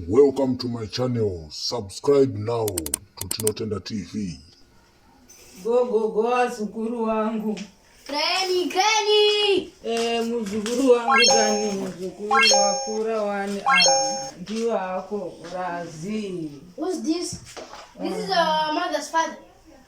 Welcome to my channel. Subscribe now to Tinotenda TV. Go go go azukuru wangu. Kani kani. Eh, muzukuru wangu kani muzukuru wakura wani ah, ndiwo hako razi. Who's this? This is our mother's father.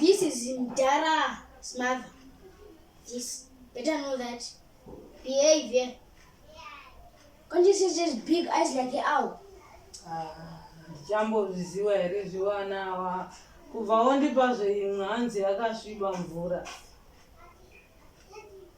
This is Mdara's mother. This better know that behavior. Can't you see just big eyes like an owl? ndichambozviziva here zvivana ava kubva wondipa zveimwe hanzi yakasviba mvura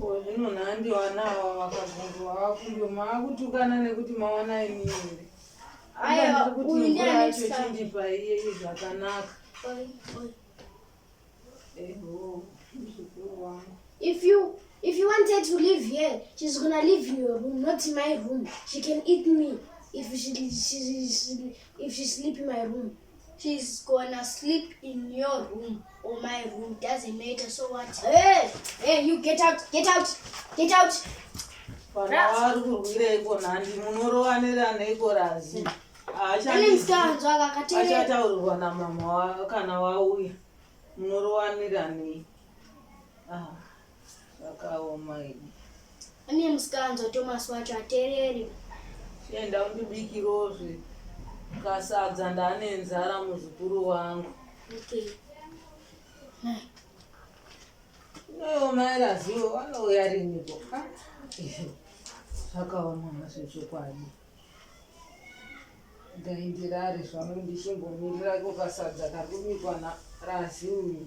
Ko zvino nhandi vana ava vakabvunzwa vafunge maakutukana nekuti mawana imi here? Aya, Ndiri kuti uyu ndiye mvura ane yacho chikafu. chindipa iyeyi zvakanaka. Oi, oi. Eho, muzukuru wangu. If you if you want her to live here, she's gonna live in your room, not in my room. She can eat me if she, she, she if she sleep in my room. She's gonna sleep in your room or my room. Doesn't matter. So what? Hey, hey, you get out, get out, get out. Vari kurwireiko nhandi munorowaniraneiko razi achataurirwa namama kana wauya munorowanira nei ah. Zvakaoma idi. Ane musikanzwa Thomas wacho atereri. Chienda undibikirozve kasadza ndane nzara muzukuru wangu. Okay. Mai. Iwewe mai Razivo vanouya riniko? Ah, ehe. Zvakaoma mazvo chokwadi. Dai ndirare zvangu ndichimbomirira kukasadza kari kubikwa naRazivo.